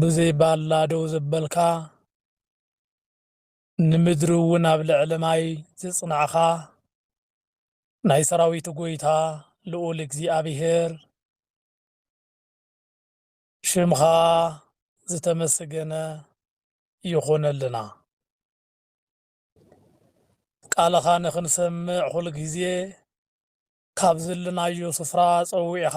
ብዘይ ባላ ደው ዘበልካ፣ ንምድሪ እውን ኣብ ልዕሊ ማይ ዘጽናዕካ፣ ናይ ሰራዊት ጎይታ ልኡል እግዚኣብሄር፣ ሽምካ ዝተመስገነ ይኹነልና። ቃልኻ ንክንሰምዕ ኩል ግዜ ካብ ዝልናዮ ስፍራ ጸዊዕኻ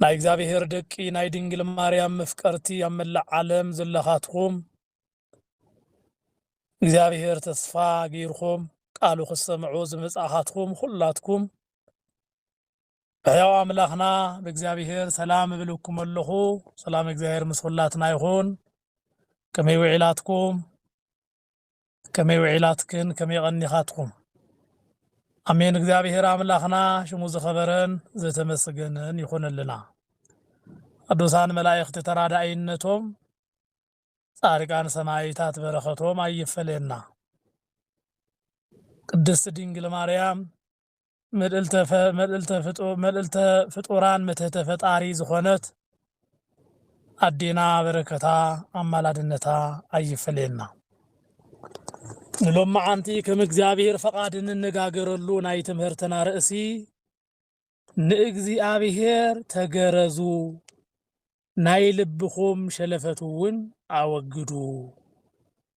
ናይ እግዚኣብሔር ደቂ ናይ ድንግል ማርያም መፍቀርቲ ኣብ መላእ ዓለም ዘለኻትኹም እግዚኣብሔር ተስፋ ገይርኹም ቃሉ ክሰምዑ ዝመጻኻትኩም ኹላትኩም ብሕያው ኣምላኽና ብእግዚኣብሔር ሰላም እብልኩም ኣለኹ። ሰላም እግዚኣብሔር ምስ ኹላትና ይኹን። ከመይ ውዒላትኩም? ከመይ ውዒላትክን ከመይ ቀኒኻትኩም። ኣሜን እግዚኣብሔር ኣምላኽና ሽሙ ዝኸበረን ዘተመስገነን ይኹንልና። ቅዱሳን መላእኽቲ ተራዳኢነቶም ጻድቃን ሰማይታት በረኸቶም ኣይፈለየና። ቅድስት ድንግል ማርያም ምልእልተ ፈ መልእልተ ፍጡ መልእልተ ፍጡራን ምትህተ ፈጣሪ ዝኾነት ኣዴና በረከታ ኣማላድነታ ኣይፈለየና። ንሎማዓንቲ ከም እግዚኣብሔር ፈቃድ እንነጋገረሉ ናይ ትምህርትና ርእሲ ንእግዚኣብሔር ተገረዙ ናይ ልብኹም ሸለፈት እውን ኣወግዱ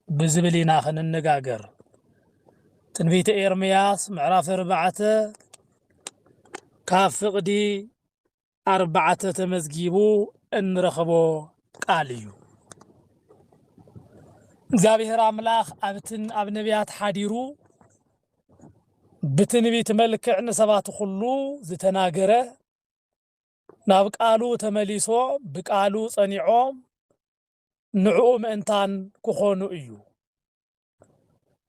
ብዝብል ኢና ክንነጋገር። ትንቢተ ኤርምያስ ምዕራፍ ኣርባዕተ ካብ ፍቕዲ ኣርባዕተ ተመዝጊቡ እንረኽቦ ቃል እዩ። እግዚኣብሔር ኣምላኽ ኣብትን ኣብ ነቢያት ሓዲሩ ብትንቢት መልክዕ ንሰባት ኩሉ ዝተናገረ ናብ ቃሉ ተመሊሶ ብቃሉ ጸኒዖ ንዕኡ ምእንታን ክኾኑ እዩ።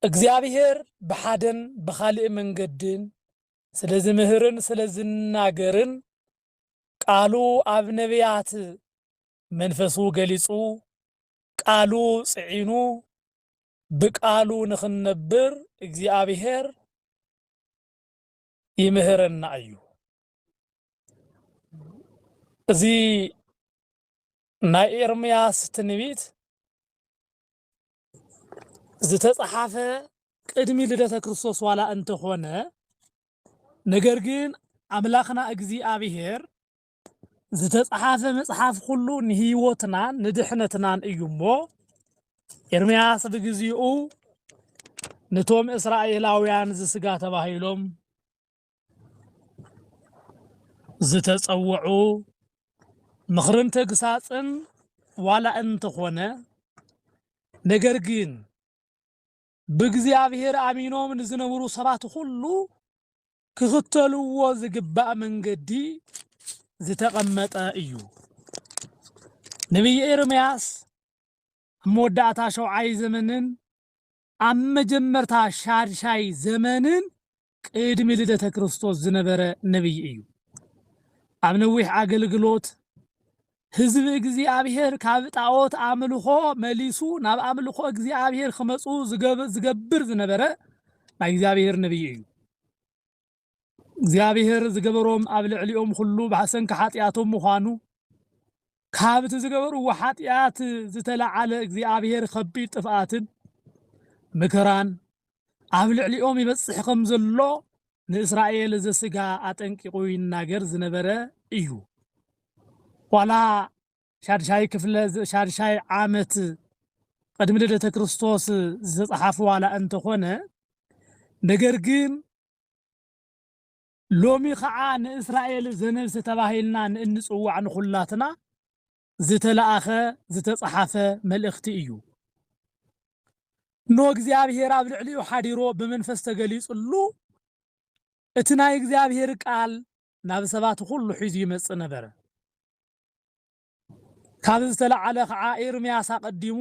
እግዚኣብሔር ብሓደን ብኻልእ መንገድን ስለ ዝምህርን ስለ ዝናገርን ቃሉ ኣብ ነብያት መንፈሱ ገሊጹ ቃሉ ጽዒኑ ብቃሉ ንኽንነብር እግዚኣብሔር ይምህረና እዩ። እዚ ናይ ኤርምያስ ትንቢት ዝተጻሓፈ ቅድሚ ልደተ ክርስቶስ ዋላ እንተኾነ ነገር ግን ኣምላኽና እግዚኣብሄር ዝተጽሓፈ መጽሓፍ ኩሉ ንህይወትናን ንድሕነትናን እዩ እሞ ኤርምያስ ብግዚኡ ንቶም እስራኤላውያን ዝስጋ ተባሂሎም ዝተጸውዑ ምኽርን ተግሳጽን ዋላ እንተኾነ ነገር ግን ብእግዚኣብሔር ኣሚኖም ንዝነብሩ ሰባት ኹሉ ክኽተልዎ ዝግባእ መንገዲ ዝተቐመጠ እዩ። ነቢይ ኤርምያስ ኣብ መወዳእታ ሸውዓይ ዘመንን ኣብ መጀመርታ ሻድሻይ ዘመንን ቅድሚ ልደተ ክርስቶስ ዝነበረ ነብዪ እዩ። ኣብ ነዊሕ ኣገልግሎት ህዝቢ እግዚኣብሔር ካብ ጣዖት ኣምልኾ መሊሱ ናብ ኣምልኾ እግዚኣብሔር ክመፁ ዝገብር ዝነበረ ናይ እግዚኣብሔር ነብዪ እዩ። እግዚኣብሔር ዝገበሮም ኣብ ልዕሊኦም ኹሉ ብሰንኪ ሓጢኣቶም ምዃኑ ካብቲ ዝገበርዎ ሓጢኣት ዝተለዓለ እግዚኣብሄር ኸቢድ ጥፍኣትን መከራን ኣብ ልዕሊኦም ይበጽሕ ኸም ዘሎ ንእስራኤል ዘስጋ ኣጠንቂቑ ይናገር ዝነበረ እዩ። ዋላ ሻድሻይ ክፍለ ሻድሻይ ዓመት ቅድሚ ልደተ ክርስቶስ ዝተጸሓፈ ዋላ እንተኾነ ነገር ግን ሎሚ ኸዓ ንእስራኤል ዘነብሰ ተባሂልና ንእንፅዋዕ ንኹላትና ዝተለኣኸ፣ ዝተፀሓፈ፣ መልእኽቲ እዩ። እነሆ እግዚኣብሄር ኣብ ልዕሊኡ ሓዲሮ ብመንፈስ ተገሊፅሉ እቲ ናይ እግዚኣብሄር ቃል ናብ ሰባት ኹሉ ሒዙ ይመፅእ ነበረ። ካብዚ ዝተላዕለ ኸዓ ኤርምያስ ኣቐዲሙ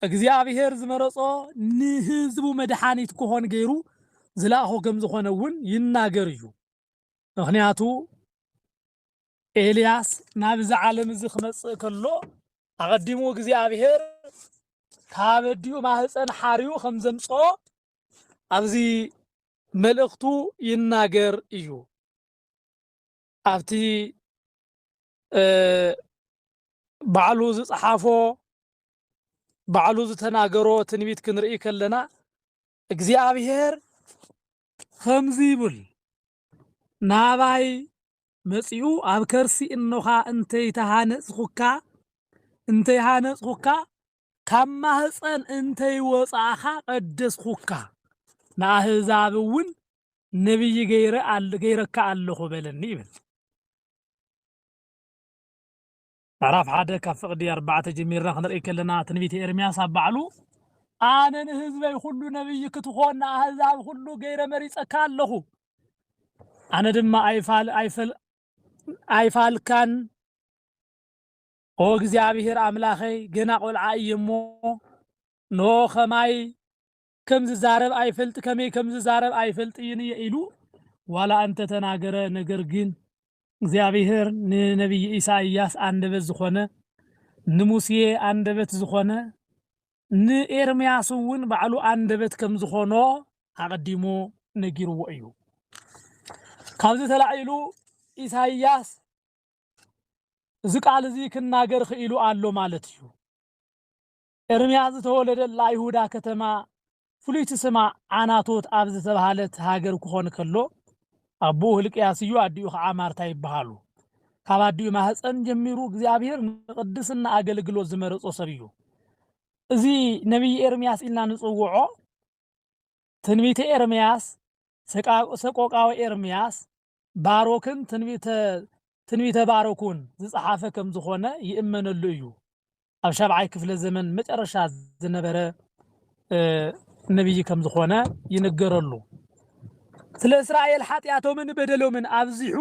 እግዚኣብሔር ዝመረጾ ንህዝቡ መድሓኒት ክኾን ገይሩ ዝለኣኾ ከም ዝኾነ እውን ይናገር እዩ። ምኽንያቱ ኤልያስ ናብዚ ዓለም እዚ ክመጽእ ከሎ ኣቐዲሙ እግዚኣብሔር ካብ ኣዲኡ ማህፀን ሓርዩ ከም ዘምጽኦ ኣብዚ መልእኽቱ ይናገር እዩ። ኣብቲ ባዕሉ ዝጸሓፎ ባዕሉ ዝተናገሮ ትንቢት ክንርኢ ከለና እግዚኣብሔር ከምዚ ይብል ናባይ መጺኡ ኣብ ከርሲ እኖኻ እንተይተሃነጽኹካ እንተይሃነጽኹካ ካብ ማህፀን እንተይወጻእኻ ቀደስኹካ ንኣህዛብ እውን ነቢይ ገይረካ ኣለኹ በለኒ ይብል ምዕራፍ ሓደ ካብ ፍቕዲ ኣርባዕተ ጀሚርና ክንርኢ ከለና ትንቢት ኤርምያስ ኣብ ባዕሉ ኣነ ንህዝበይ ኩሉ ነብይ ክትኾን ንኣህዛብ ኩሉ ገይረ መሪጸካ ኣለኹ ኣነ ድማ ኣይፋል ኣይፈል ኣይፋልካን ኦ እግዚኣብሔር ኣምላኸይ ገና ቆልዓ እየ እሞ ኖ ከማይ ከም ዝዛረብ ኣይፈልጥ ከመይ ከም ዝዛረብ ኣይፈልጥይን እየ ኢሉ ዋላ እንተ ተናገረ ነገር ግን እግዚኣብሄር ንነብዪ ኢሳይያስ ኣንደበት ዝኾነ ንሙሴ ኣንደበት ዝኾነ ንኤርምያስ እውን ባዕሉ ኣንደበት ከም ዝኾኖ ኣቐዲሙ ነጊርዎ እዩ ካብዚ ተላዒሉ ኢሳይያስ እዚ ቃል እዚ ክናገር ኽኢሉ ኣሎ ማለት እዩ። ኤርምያስ ዝተወለደላ ይሁዳ ከተማ ፍሉይቲ ስማ ዓናቶት ኣብ ዝተብሃለት ሃገር ክኾን ከሎ ኣቦኡ ህልቅያስ እዩ፣ ኣዲኡ ከዓ ማርታ ይበሃሉ። ካብ ኣዲኡ ማህፀን ጀሚሩ እግዚኣብሔር ንቅድስና ኣገልግሎት ዝመረፆ ሰብ እዩ። እዚ ነቢይ ኤርምያስ ኢልና ንፅውዖ ትንቢተ ኤርምያስ፣ ሰቆቃወ ኤርምያስ፣ ባሮክን ትንቢተ ትንቢተ ባሮክውን ዝጸሓፈ ከም ዝኾነ ይእመነሉ እዩ። ኣብ ሻብዓይ ክፍለ ዘመን መጨረሻ ዝነበረ ነብይ ከም ዝኾነ ይንገረሉ። ስለ እስራኤል ሓጢኣቶምን በደሎምን ኣብዚሑ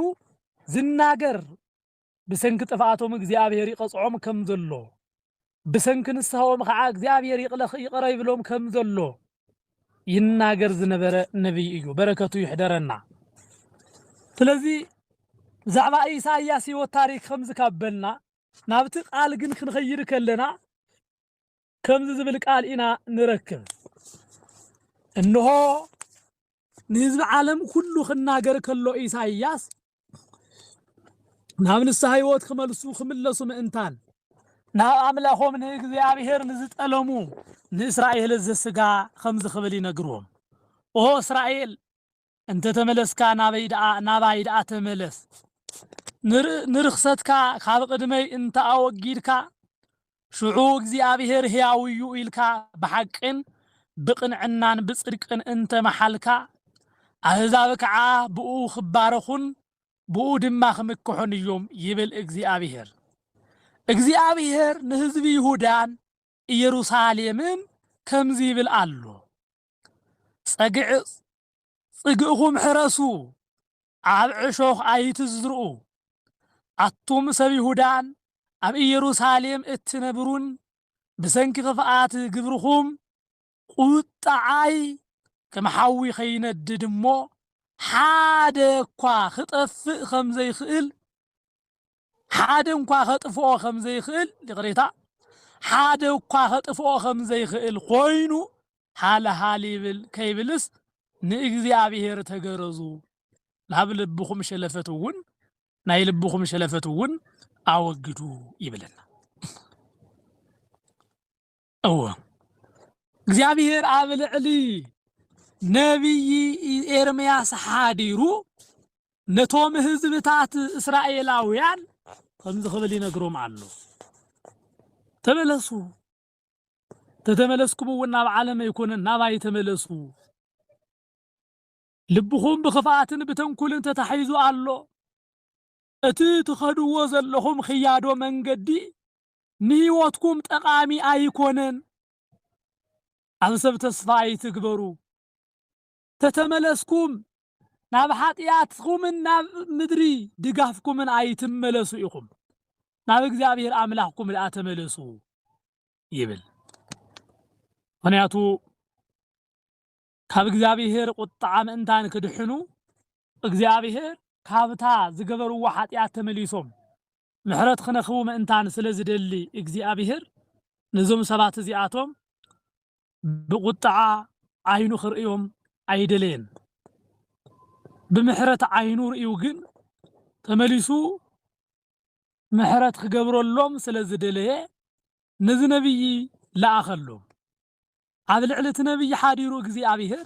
ዝናገር ብሰንኪ ጥፍኣቶም እግዚኣብሄር ይቐጽዖም ከም ዘሎ፣ ብሰንኪ ንስሃኦም ኸኣ እግዚኣብሄር ይቕረ ይብሎም ከም ዘሎ ይናገር ዝነበረ ነብይ እዩ። በረከቱ ይሕደረና። ስለዚ ብዛዕባ ኢሳይያስ ህይወት ታሪክ ከምዚ ካብ በልና ናብቲ ቃል ግን ክንኸይድ ከለና ከምዚ ዝብል ቃል ኢና ንረክብ፣ እንሆ፣ ንህዝቢ ዓለም ኩሉ ክናገር ከሎ ኢሳይያስ ናብ ንስሓ ሕይወት ክመልሱ ክምለሱ ምእንታን ናብ ኣምላኾም ንእግዚኣብሔር ንዝጠለሙ ንእስራኤል ዘስጋ ከምዚ ክብል ይነግሮም፣ ኦ እስራኤል፣ እንተተመለስካ ናበይ ደኣ ናባይ ደኣ ተመለስ ንርኽሰትካ ካብ ቕድመይ እንተ ኣወጊድካ ሽዑ እግዚኣብሄር ሕያው እዩ ኢልካ ብሓቅን ብቕንዕናን ብጽድቅን እንተ መሓልካ ኣህዛብ ከዓ ብኡ ክባረኹን ብኡ ድማ ክምክሑን እዮም ይብል እግዚኣብሄር። እግዚኣብሄር ንህዝቢ ይሁዳን ኢየሩሳሌምን ከምዚ ይብል ኣሎ። ጸግዒ ጽግእኹም ሕረሱ፣ ኣብ ዕሾኽ ኣይትዝርኡ። ኣቱም ሰብ ይሁዳን ኣብ ኢየሩሳሌም እትነብሩን ብሰንኪ ክፍኣት ግብርኹም ቍጥዓይ ከም ሓዊ ኸይነድድ እሞ፣ ሓደ እኳ ኽጠፍእ ኸም ዘይክእል ሓደ እንኳ ከጥፍኦ ከም ዘይክእል ይቕሬታ ሓደ እኳ ከጥፍኦ ከም ዘይክእል ኮይኑ ሃልሃል ይብል ከይብልስ ንእግዚኣብሔር ተገረዙ ናብ ልብኹም ሸለፈት እውን ናይ ልብኹም ሸለፈት እውን ኣወግዱ ይብለና። እወ እግዚኣብሔር ኣብ ልዕሊ ነቢይ ኤርምያስ ሓዲሩ ነቶም ህዝብታት እስራኤላውያን ከምዚ ክብል ይነግሮም ኣሎ ተመለሱ ተተመለስኩም እውን ናብ ዓለም ኣይኮነን ናባይ ተመለሱ ልብኹም ብክፍኣትን ብተንኩልን ተታሒዙ ኣሎ እቲ ትኸድዎ ዘለኹም ክያዶ መንገዲ ንህይወትኩም ጠቓሚ ኣይኮነን። ኣብ ሰብ ተስፋ ኣይትግበሩ። ተተመለስኩም ናብ ሓጥያትኩምን ናብ ምድሪ ድጋፍኩምን ኣይትመለሱ ኢኹም። ናብ እግዚኣብሔር ኣምላኽኩም ደኣ ተመለሱ ይብል። ምክንያቱ ካብ እግዚኣብሄር ቍጥዓ ምእንታን ክድሕኑ፣ እግዚኣብሄር ካብታ ዝገበርዎ ሓጢኣት ተመሊሶም ምሕረት ክነክቡ ምእንታን ስለ ዝደሊ እግዚኣብሄር ነዞም ሰባት እዚኣቶም ብቍጥዓ ዓይኑ ክርእዮም ኣይደለየን። ብምሕረት ዓይኑ ርእዩ ግን ተመሊሱ ምሕረት ክገብረሎም ስለ ዝደለየ ነዚ ነብዪ ለኣኸሎም። ኣብ ልዕሊ እቲ ነብዪ ሓዲሩ እግዚኣብሄር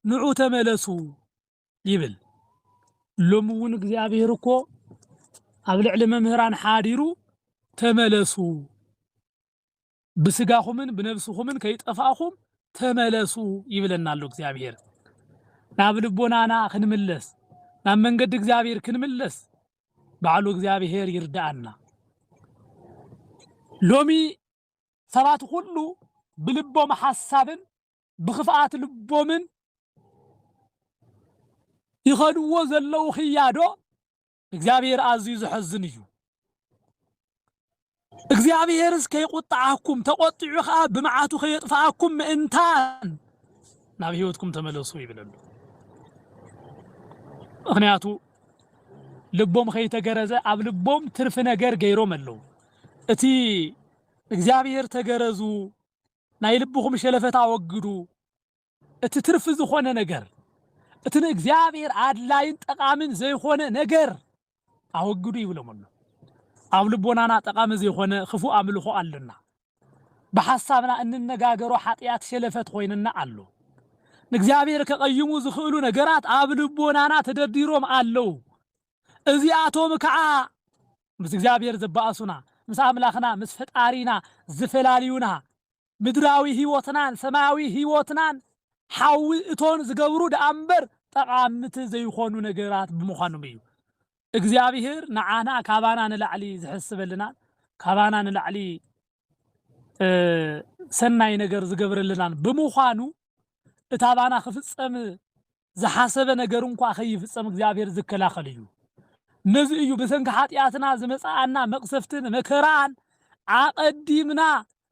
ንዑ ተመለሱ ይብል። ሎሚ እውን እግዚኣብሄር እኮ ኣብ ልዕሊ መምህራን ሓዲሩ ተመለሱ ብስጋኹምን ብነብስኹምን ከይጠፋእኹም ተመለሱ ይብለና ኣሎ እግዚኣብሄር። ናብ ልቦናና ክንምለስ ናብ መንገዲ እግዚኣብሄር ክንምለስ ባዕሉ እግዚኣብሄር ይርዳኣና። ሎሚ ሰባት ኹሉ ብልቦም ሓሳብን ብኽፍኣት ልቦምን ይኸድዎ ዘለዉ ክያዶ እግዚኣብሔር ኣዝዩ ዘሐዝን እዩ። እግዚኣብሔርስ ከይቁጥዓኩም ተቆጢዑ ከዓ ብመዓቱ ከየጥፍኣኩም ምእንታን ናብ ህይወትኩም ተመለሱ ይብለሉ። ምክንያቱ ልቦም ከይተገረዘ ኣብ ልቦም ትርፊ ነገር ገይሮም ኣለዉ። እቲ እግዚኣብሔር ተገረዙ ናይ ልብኹም ሸለፈት ኣወግዱ እቲ ትርፊ ዝኾነ ነገር እቲ ንእግዚኣብሔር ኣድላይን ጠቓምን ዘይኮነ ነገር ኣወግዱ ይብሎም ኣሎ ኣብ ልቦናና ጠቓሚ ዘይኮነ ክፉእ ኣምልኾ ኣሎና ብሓሳብና እንነጋገሮ ሓጢኣት ሸለፈት ኮይንና ኣሎ ንእግዚኣብሔር ከቐይሙ ዝኽእሉ ነገራት ኣብ ልቦናና ተደርዲሮም ኣለዉ እዚኣቶም ከዓ ምስ እግዚኣብሔር ዘባእሱና፣ ምስ ኣምላኽና ምስ ፈጣሪና ዝፈላልዩና፣ ምድራዊ ሕይወትናን ሰማያዊ ሕይወትናን ሓዊ እቶን ዝገብሩ ደኣ እምበር ጠቓምቲ ዘይኾኑ ነገራት ብምዃኖም እዩ። እግዚኣብሔር ንዓና ካባና ንላዕሊ ዝሕስበልናን ካባና ንላዕሊ ሰናይ ነገር ዝገብረልናን ብምዃኑ እታባና ክፍጸም ዝሓሰበ ነገር እንኳ ከይፍጸም እግዚኣብሔር ዝከላኸል እዩ። ነዚ እዩ ብሰንኪ ኃጢኣትና ዝመጽኣና መቕሰፍትን መከራኣን ኣቐዲምና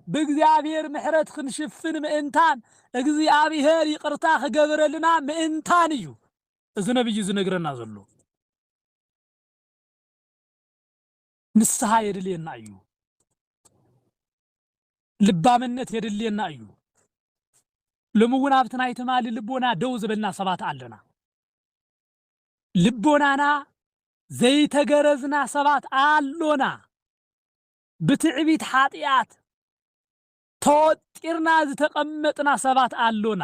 ብእግዚኣብሔር ምሕረት ክንሽፍን ምእንታን እግዚኣብሔር ይቕርታ ክገብረልና ምእንታን እዩ እዚ ነቢይ ዝነግረና ዘሎ። ንስሃ የድልየና እዩ። ልባምነት የድልየና እዩ። ሎሚ እውን ኣብቲ ናይ ትማሊ ልቦና ደው ዝበልና ሰባት ኣለና። ልቦናና ዘይተገረዝና ሰባት ኣሎና። ብትዕቢት ሓጢኣት ተወጢርና ዝተቐመጥና ሰባት ኣሎና።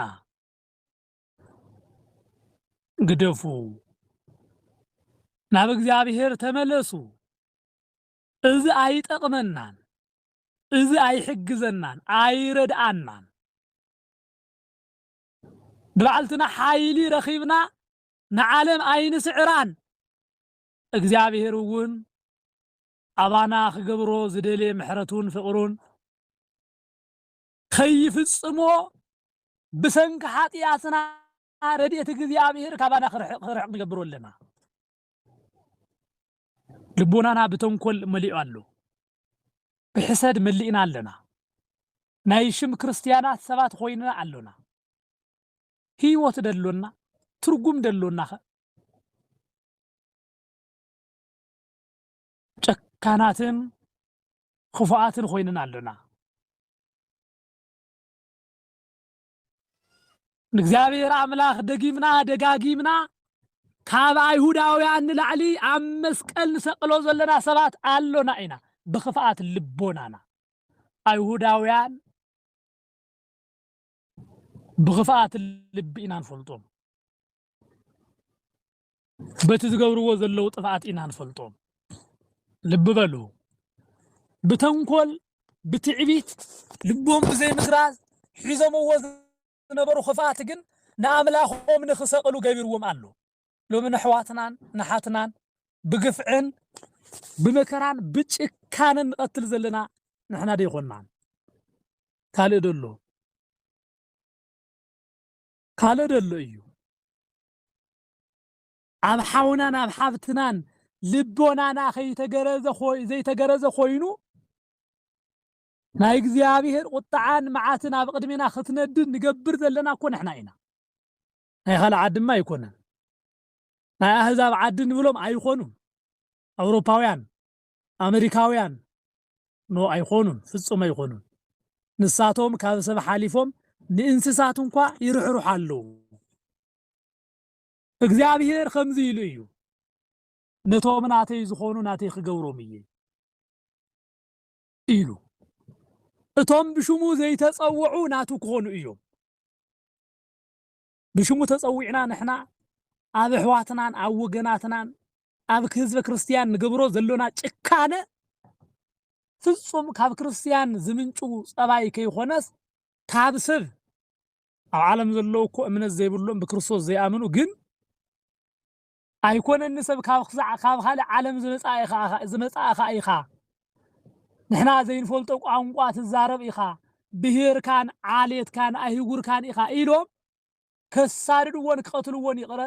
ግደፉ፣ ናብ እግዚኣብሔር ተመለሱ፣ እዚ ኣይጠቕመናን፣ እዚ ኣይሕግዘናን፣ ኣይረድኣናን፣ ብባዕልትና ሓይሊ ረኺብና ንዓለም ኣይንስዕራን፣ እግዚኣብሔር እውን ኣባና ክገብሮ ዝደልየ ምሕረቱን ፍቕሩን ከይፍጽሞ ብሰንኪ ሓጢኣትና ረድኤት እግዚኣብሔር ካባና ክርሕቕ ንገብሮ ኣለና። ልቦናና ብተንኮል መሊኡ ኣሎ፣ ብሕሰድ መሊእና ኣለና፣ ናይ ሽም ክርስትያናት ሰባት ኮይንና ኣሎና። ህይወት ደሎና ትርጉም ደሎናኸ? ጨካናትን ኽፉኣትን ኾይንና ኣሎና። ንእግዚኣብሔር ኣምላኽ ደጊምና ደጋጊምና ካብ ኣይሁዳውያን ንላዕሊ ኣብ መስቀል ንሰቅሎ ዘለና ሰባት ኣሎና ኢና ብኽፍኣት ልቦናና ኣይሁዳውያን ብኽፍኣት ልቢ ኢና ንፈልጦም። በቲ ዝገብርዎ ዘለዉ ጥፍኣት ኢና ንፈልጦም። ልቢ በሉ፣ ብተንኮል ብትዕቢት ልቦም ብዘይምስራዝ ሒዞምዎ ዝነበሩ ክፍኣት ግን ንኣምላኾም ንክሰቕሉ ገቢርዎም ኣሎ። ሎሚ ንኣሕዋትናን ንሓትናን ብግፍዕን ብመከራን ብጭካንን ንቐትል ዘለና ንሕና ደይኮናን ካልእ ደሎ ካልእ ደሎ እዩ ኣብ ሓውናን ኣብ ሓብትናን ልቦናና ከይተገረዘ ኮይ- ዘይተገረዘ ኮይኑ ናይ እግዚኣብሔር ቁጥዓን መዓትን ኣብ ቅድሜና ክትነድድ ንገብር ዘለና እኮ ንሕና ኢና ናይ ካልእ ዓድማ ኣይኮነን ናይ ኣህዛብ ዓዲ ንብሎም ኣይኮኑን ኣውሮፓውያን ኣመሪካውያን ን ኣይኾኑን ፍጹም ኣይኾኑን ንሳቶም ካብ ሰብ ሓሊፎም ንእንስሳት እንኳ ይርሕርሑ ኣለዉ እግዚኣብሄር ከምዚ ኢሉ እዩ ነቶም ናተይ ዝኾኑ ናተይ ክገብሮም እየ ኢሉ እቶም ብሽሙ ዘይተጸውዑ ናቱ ክኾኑ እዮም ብሽሙ ተጸዊዕና ንሕና ኣብ ኣሕዋትናን ኣብ ወገናትናን ኣብ ህዝበ ክርስትያን ንገብሮ ዘሎና ጭካነ ፍጹም ካብ ክርስትያን ዝምንጩ ጸባይ ከይኮነስ ካብ ሰብ ኣብ ዓለም ዘለዉ እኮ እምነት ዘይብሎም ብክርስቶስ ዘይኣምኑ ግን ኣይኮነን ንሰብ ካብ ክሳዕ ካብ ካልእ ዓለም ዝመጻእ ኢኻ ኢኻ ዝመጻእኻ ኢኻ ንሕና ዘይንፈልጦ ቋንቋ ትዛረብ ኢኻ ብሄርካን ዓሌትካን ኣህጉርካን ኢኻ ኢሎም ከሳድድዎን ክቐትልዎን ይቕረ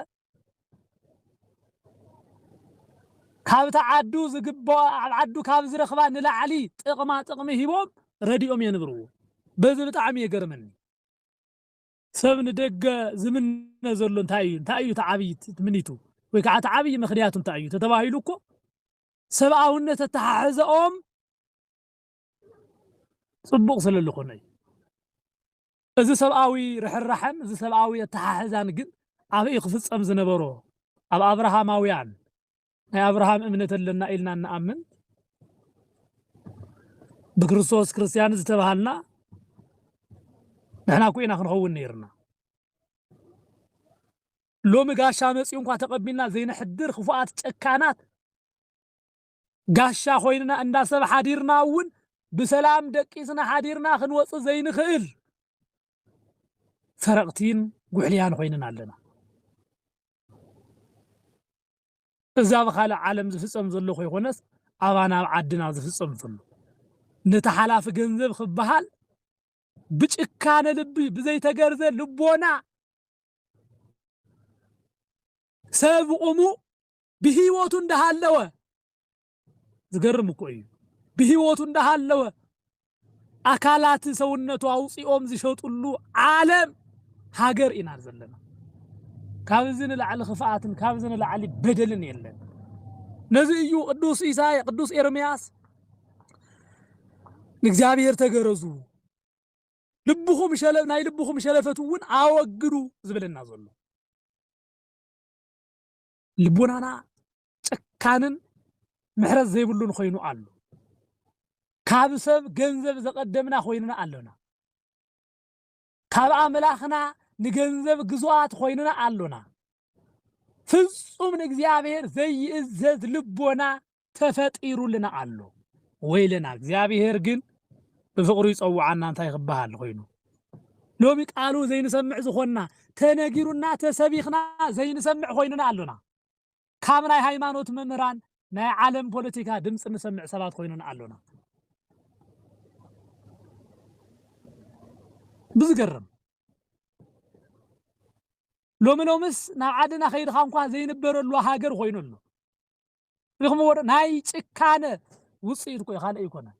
ካብቲ ዓዱ ዝግበኦ ኣብ ዓዱ ካብ ዝረኽባ ንላዕሊ ጥቕማ ጥቕሚ ሂቦም ረዲኦም የንብርዎ በዚ ብጣዕሚ የገርመኒ። ሰብ ንደገ ዝምነ ዘሎ እንታይ እዩ? እንታይ እዩ እቲ ዓብዪ ትምኒቱ? ወይ ከዓ እቲ ዓብዪ ምኽንያቱ እንታይ እዩ? ተተባሂሉ እኮ ሰብኣውነት ኣተሓሕዘኦም ፅቡቕ ስለ ዝኾነ እዩ። እዚ ሰብኣዊ ርሕራሐን እዚ ሰብኣዊ ኣተሓሕዛን ግን ኣበይ ክፍፀም ዝነበሮ? ኣብ ኣብርሃማውያን ናይ ኣብርሃም እምነት ኣለና ኢልና እንኣምን ብክርስቶስ ክርስትያን ዝተባሃልና ንሕና እኮ ኢና ክንኸውን ነይርና ሎሚ ጋሻ መፅኡ እንኳ ተቐቢልና ዘይንሕድር ክፉኣት ጨካናት ጋሻ ኮይንና እንዳ ሰብ ሓዲርና እውን ብሰላም ደቂስና ሓዲርና ክንወፅእ ዘይንኽእል ሰረቕቲን ጉሕልያን ኮይንን ኣለና እዚ ኣብ ኻልእ ዓለም ዝፍጸም ዘሎ ኮይኮነስ ኣባና ኣብ ዓድና ዝፍጸም ዘሎ ነቲ ሓላፊ ገንዘብ ክበሃል ብጭካነ ልቢ ብዘይተገርዘ ልቦና ሰብ ቁሙ ብሂወቱ እንዳሃለወ ዝገርም እኮ እዩ ብህይወቱ እንዳሃለወ ኣካላት ሰውነቱ ኣውፂኦም ዝሸጥሉ ዓለም ሃገር ኢና ዘለና። ካብ እዚ ንላዕሊ ክፍኣትን ካብ እዚ ንላዕሊ በደልን የለን። ነዚ እዩ ቅዱስ ኢሳይ ቅዱስ ኤርምያስ ንእግዚኣብሔር ተገረዙ ልብኹም ሸለ ናይ ልብኹም ሸለፈት እውን ኣወግዱ ዝብለና ዘሎ። ልቦናና ጨካንን ምሕረት ዘይብሉን ኮይኑ ኣሎ። ካብ ሰብ ገንዘብ ዘቐደምና ኮይንና ኣሎና። ካብ ኣምላኽና ንገንዘብ ግዙኣት ኮይንና ኣሎና። ፍጹም ንእግዚኣብሔር ዘይእዘዝ ልቦና ተፈጢሩልና ኣሎ። ወይለና እግዚኣብሄር ግን ብፍቕሩ ይጸውዓና እንታይ ክበሃል ኮይኑ ሎሚ ቃሉ ዘይንሰምዕ ዝኾንና ተነጊሩና ተሰቢኽና ዘይንሰምዕ ኮይንና ኣሎና። ካብ ናይ ሃይማኖት መምህራን ናይ ዓለም ፖለቲካ ድምፂ ንሰምዕ ሰባት ኮይንና ኣሎና። ብዝገርም ሎሚ ሎምስ ናብ ዓድና ከይድኻ እንኳ ዘይንበረሉ ሃገር ኮይኑ ኣሎ። ሪኽምዎ ዶ? ናይ ጭካነ ውጽኢት እኮ እዩ፣ ካልእ ኣይኮነን።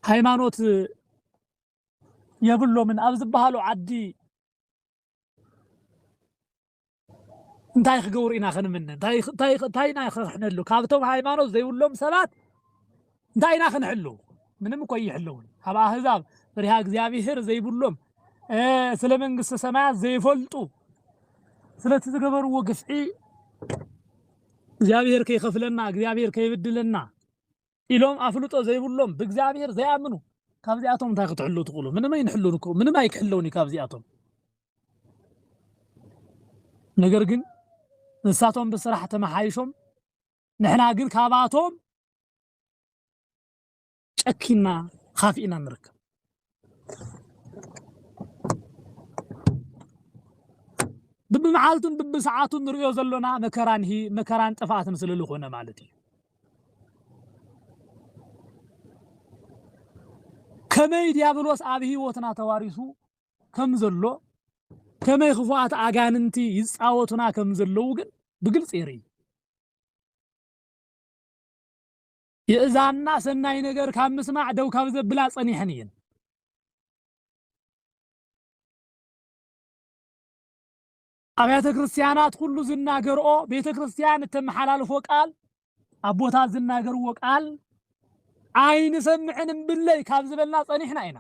ሃይማኖት የብሎምን ኣብ ዝበሃሉ ዓዲ እንታይ ክገብሩ ኢና ክንምነ? እንታይ እንታይ እንታይ ኢና ከሕነሉ? ካብቶም ሃይማኖት ዘይብሎም ሰባት እንታይ ኢና ክንሕሉ ምንም እኮ ኣይሕለውን ኣብ ኣህዛብ ፍሪሃ እግዚኣብሄር ዘይብሎም ስለ መንግስተ ሰማያት ዘይፈልጡ ስለቲ ዝገበርዎ ግፍዒ እግዚኣብሄር ከይከፍለና እግዚኣብሄር ከይብድለና ኢሎም ኣፍልጦ ዘይብሎም ብእግዚኣብሄር ዘይኣምኑ ካብዚኣቶም እንታይ ክትሕሉ ትኽእሉ ምንም ኣይንሕሉን እኮ ምንም ኣይክሕለውን እዩ ካብዚኣቶም ነገር ግን ንሳቶም ብስራሕ ተመሓይሾም ንሕና ግን ካብኣቶም ጨኪንና ኻፊእና ንርከብ። ብብመዓልቱን ብብሰዓቱን ንርእዮ ዘሎና መከራን ሂ መከራን ጥፍኣትን ስለ ዝኾነ ማለት እዩ። ከመይ ዲያብሎስ ኣብ ህይወትና ተዋሪሱ ከም ዘሎ ከመይ ክፉኣት ኣጋንንቲ ይጻወቱና ከም ዘለዉ ግን ብግልጺ የርኢ። የእዛንና ሰናይ ነገር ካብ ምስማዕ ደው ካብ ዘብላ ጸኒሐን እየን። ኣብያተ ክርስቲያናት ኩሉ ዝናገርኦ ቤተ ክርስቲያን እተመሓላልፎ ቃል ኣቦታት ዝናገርዎ ቃል ኣይንሰምዕን እምብለይ ካብ ዝበልና ጸኒሕና ኢና።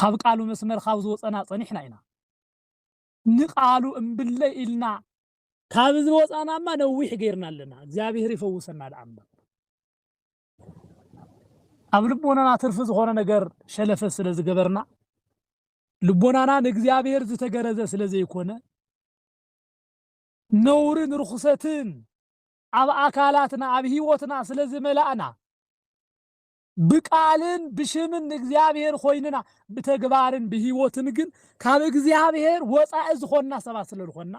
ካብ ቃሉ መስመር ካብ ዝወፀና ጸኒሕና ኢና። ንቃሉ እምብለይ ኢልና ካብ ዝወጻናማ ነዊሕ ገይርና ኣለና እግዚኣብሔር ይፈውሰና ድኣ እምበር ኣብ ልቦናና ትርፊ ዝኾነ ነገር ሸለፈ ስለ ዝገበርና ልቦናና ንእግዚኣብሔር ዝተገረዘ ስለ ዘይኮነ ነውርን ርኹሰትን ኣብ ኣካላትና ኣብ ህይወትና ስለ ዝመላእና ብቃልን ብሽምን ንእግዚኣብሔር ኾይንና ብተግባርን ብሕይወትን ግን ካብ እግዚኣብሔር ወፃኢ ዝኾንና ሰባት ስለልኾንና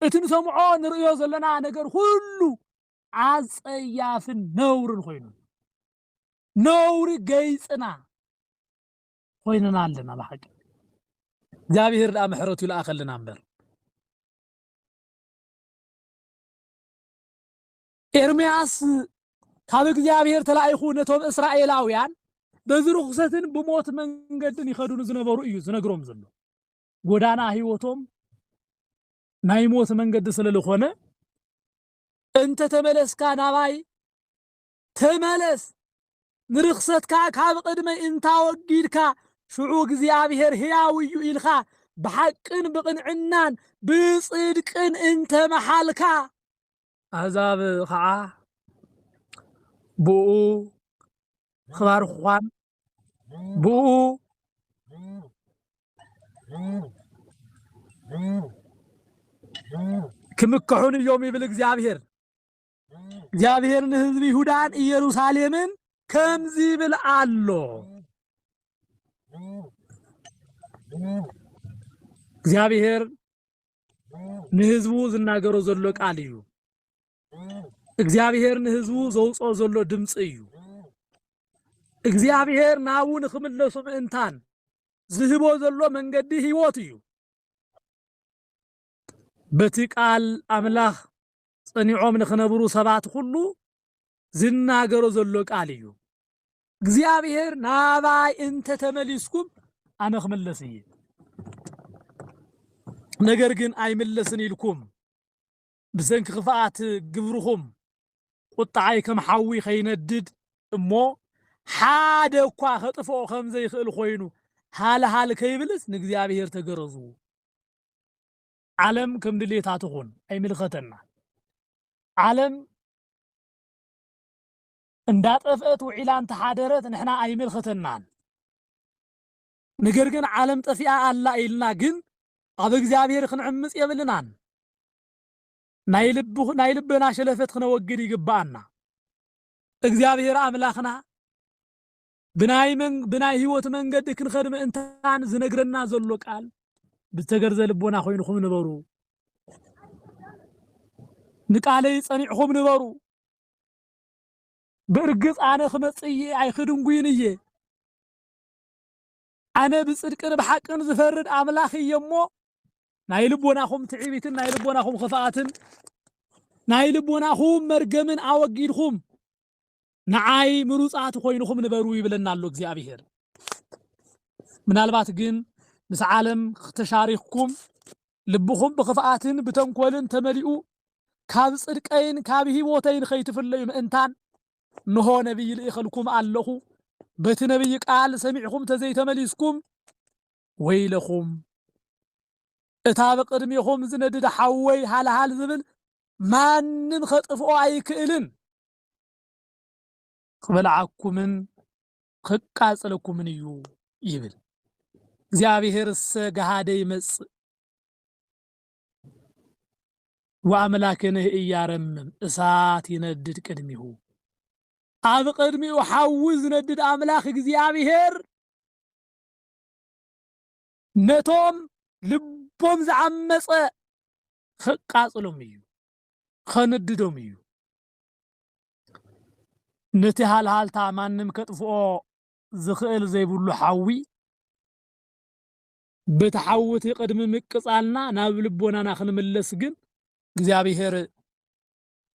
እቲ ንሰምዖ ንርእዮ ዘለና ነገር ኹሉ ኣፀያፍን ነውርን ኾይኑ ነውሪ ገይፅና ኾይንና ኣለና ብሓቂ እግዚኣብሔር ድኣ ምሕረቱ ይልኣኸልና እምበር ኤርምያስ ካብ እግዚኣብሔር ተላኢኹ ነቶም እስራኤላውያን በዚ ርኹሰትን ብሞት መንገድን ይኸዱ ንዝነበሩ እዩ ዝነግሮም ዘሎ። ጎዳና ህይወቶም ናይ ሞት መንገዲ ስለ ዝኾነ እንተ ተመለስካ ናባይ ተመለስ ንርኽሰትካ ካብ ቕድመይ እንታወጊድካ ሽዑ እግዚኣብሔር ሕያው እዩ ኢልካ ብሓቅን ብቕንዕናን ብጽድቅን እንተ መሓልካ ኣህዛብ ከዓ ብኡ ክባርኽኳን ብኡ ክምክሑን እዮም ይብል እግዚኣብሔር። እግዚኣብሔር ንህዝቢ ይሁዳን ኢየሩሳሌምን ከምዚ ይብል ኣሎ እግዚኣብሔር ንህዝቡ ዝናገሮ ዘሎ ቃል እዩ። እግዚኣብሔር ንህዝቡ ዘውፅኦ ዘሎ ድምፂ እዩ። እግዚኣብሔር ናቡ ንክምለሱ ምእንታን ዝህቦ ዘሎ መንገዲ ህይወት እዩ። በቲ ቃል ኣምላኽ ጸኒዖም ንክነብሩ ሰባት ኩሉ ዝናገሮ ዘሎ ቃል እዩ። እግዚኣብሔር ናባይ እንተ ተመሊስኩም ኣነ ክምለስ እየ ነገር ግን ኣይምለስን ኢልኩም ብሰንኪ ክፍኣት ግብርኹም ቁጣዓይ ከም ሓዊ ከይነድድ እሞ ሓደ እኳ ከጥፍኦ ከም ዘይክእል ኮይኑ ሃልሃል ከይብልስ ንእግዚኣብሔር ተገረዙ ዓለም ከም ድሌታ ትኹን ኣይምልከተና ዓለም እንዳጠፍእት ውዒላ እንተሓደረት ንሕና ኣይምልክተናን ንገርግን ዓለም ጠፊኣ ኣላ ኢልና ግን ኣብ እግዚኣብሔር ክንዕምፅ የብልናን ናይ ልብ ናይ ልበና ሸለፈት ክነወግድ ይግባኣና እግዚኣብሔር ኣምላክና ብናይ መን ብናይ ህይወት መንገዲ ክንኸድ ምእንታን ዝነግረና ዘሎ ቃል ብዝተገርዘ ልቦና ኮይንኹም ንበሩ ንቃለይ ጸኒዕኹም ንበሩ ብእርግጽ ኣነ ክመጽእ እየ፣ ኣይክድንጉይን እየ። ኣነ ብጽድቅን ብሓቅን ዝፈርድ ኣምላኽ እየ እሞ፣ ናይ ልቦናኹም ትዕቢትን ናይ ልቦናኹም ክፍኣትን ናይ ልቦናኹም መርገምን ኣወጊድኹም ንዓይ ምሩጻት ኮይንኹም ንበሩ ይብለና ኣሎ እግዚኣብሔር። ምናልባት ግን ምስ ዓለም ተሻሪኽኩም ልብኹም ብኽፍኣትን ብተንኮልን ተመሊኡ ካብ ጽድቀይን ካብ ህይወተይን ኸይትፍለዩ ምእንታን እንሆ ነቢይ ልኢኸልኩም ኣለኹ በቲ ነቢይ ቃል ሰሚዕኹም ተዘይተመሊስኩም ወይለኹም እታ ብቅድሜኹም ዝነድድ ሓወይ ሃልሃል ዝብል ማንም ኸጥፍኦ ኣይክእልን ክበልዓኩምን ከቃጽለኩምን እዩ ይብል። እግዚኣብሔርሰ ገሃደ ይመጽእ ወአምላክነ ኢያረምም እሳት ይነድድ ቅድሚሁ ኣብ ቅድሚኡ ሓዊ ዝነድድ ኣምላኽ እግዚኣብሔር ነቶም ልቦም ዝዓመጸ ከቃጽሎም እዩ ከንድዶም እዩ ነቲ ሃልሃልታ ማንም ከጥፍኦ ዝኽእል ዘይብሉ ሓዊ፣ በቲ ሓዊ'ቲ ቅድሚ ምቅጻልና ናብ ልቦናና ክንምለስ ግን እግዚኣብሔር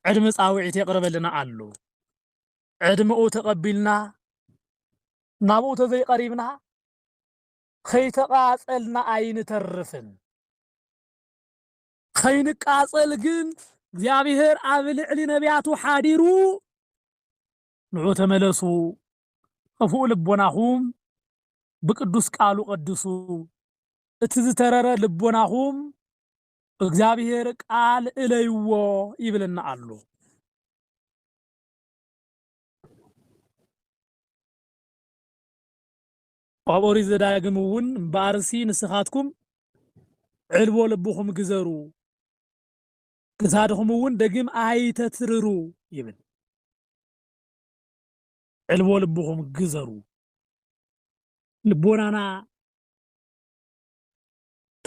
ዕድመ ጻውዒት የቕርበልና ኣሎ። ዕድመኡ ተቐቢልና ናብኡ ተዘይቐሪብና ከይተቓጸልና ኣይንተርፍን። ከይንቃጸል ግን እግዚኣብሔር ኣብ ልዕሊ ነቢያቱ ሓዲሩ ንዑ ተመለሱ ኸፉኡ ልቦናኹም ብቅዱስ ቃሉ ቀድሱ እቲ ዝተረረ ልቦናኹም ብእግዚኣብሔር ቃል እለይዎ ይብልና ኣሎ። ኣብ ኦሪት ዘዳግም እውን እምበኣርሲ ንስኻትኩም ዕልቦ ልብኹም ግዘሩ፣ ክሳድኹም እውን ደግም ኣይተትርሩ ይብል። ዕልቦ ልብኹም ግዘሩ፣ ልቦናና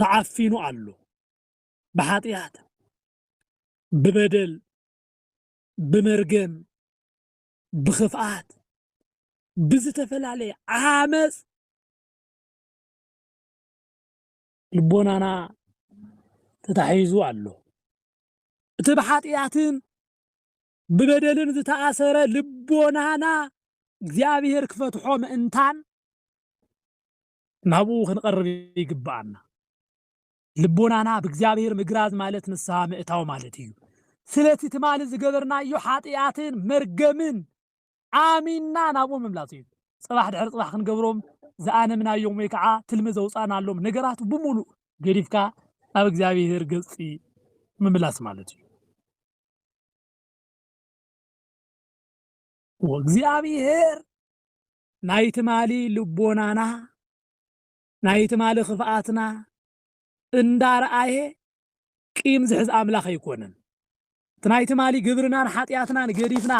ተዓፊኑ ኣሎ ብሓጢኣት፣ ብበደል፣ ብመርገም፣ ብኽፍኣት ብዝተፈላለየ ዓመፅ ልቦናና ተታሒዙ ኣሎ። እቲ ብሓጢኣትን ብበደልን ዝተኣሰረ ልቦናና እግዚኣብሔር ክፈትሖ ምእንታን ናብኡ ክንቐርብ ይግብኣና። ልቦናና ብእግዚኣብሔር ምግራዝ ማለት ንስሃ ምእታው ማለት እዩ። ስለቲ ትማሊ ዝገበርናዮ ሓጢኣትን መርገምን ኣሚንና ናብኡ ምምላስ እዩ። ጽባሕ ድሕሪ ጽባሕ ክንገብሮም ዝኣነምናዮም ወይ ከዓ ትልሚ ዘውፃእናሎም ነገራት ብምሉእ ገዲፍካ ናብ እግዚኣብሔር ገጽ ምምላስ ማለት እዩ። ወእግዚኣብሔር ናይ ትማሊ ልቦናና ናይ ትማሊ ክፍኣትና እንዳርኣየ ቂም ዝሕዝ ኣምላኽ ኣይኮነን። እቲ ናይ ትማሊ ግብርናን ሓጢኣትናን ገዲፍና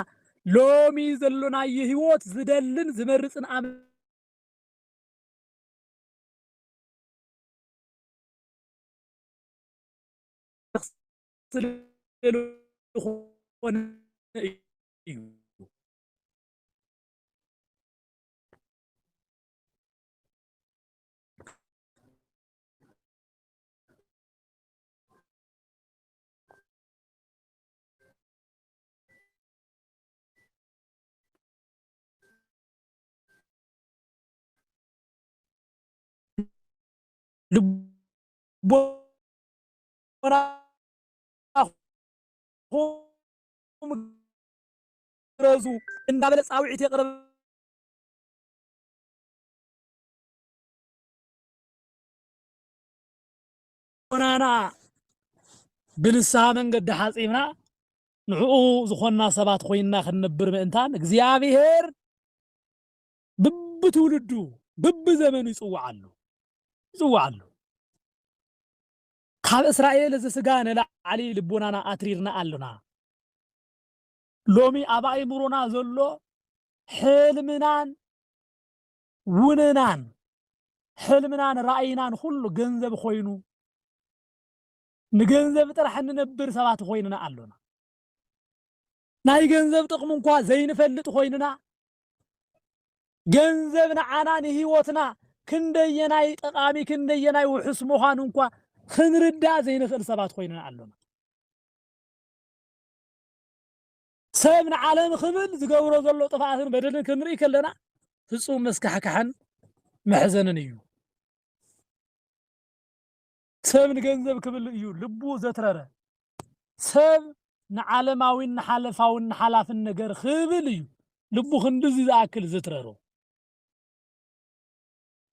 ሎሚ ዘሎናዮ ህይወት ዝደልን ዝመርጽን ኣምላኽ ልቦናኹም ግረዙ እንዳበለ ጻውዒት የቕርብ። ዑናና ብንስሓ መንገዲ ሓጺብና ንዕኡ ዝኾንና ሰባት ኮይንና ክንነብር ምእንታን እግዚኣብሔር ብብትውልዱ ብብዘመኑ ይጽውዓሉ ይጽውዓሉ ካብ እስራኤል እዚ ስጋ ንላዕሊ ልቦናና ኣትሪርና ኣሎና ሎሚ ኣብ ኣእምሮና ዘሎ ሕልምናን ውንናን ሕልምናን ራእይናን ኩሉ ገንዘብ ኮይኑ ንገንዘብ ጥራሕ እንነብር ሰባት ኮይንና ኣሎና። ናይ ገንዘብ ጥቕሚ እንኳ ዘይንፈልጥ ኮይንና ገንዘብ ንዓና ንህይወትና ክንደየናይ ጠቓሚ ክንደየናይ ውሑስ ምዃኑ እንኳ ክንርዳእ ዘይንኽእል ሰባት ኮይንና ኣሎና። ሰብ ንዓለም ክብል ዝገብሮ ዘሎ ጥፍኣትን በደልን ክንርኢ ከለና ፍጹም መስካሕካሕን መሕዘንን እዩ። ሰብ ንገንዘብ ክብል እዩ ልቡ ዘትረረ። ሰብ ንዓለማዊን ንሓለፋውን ንሓላፍን ነገር ክብል እዩ ልቡ ክንድዚ ዝኣክል ዘትረሮ።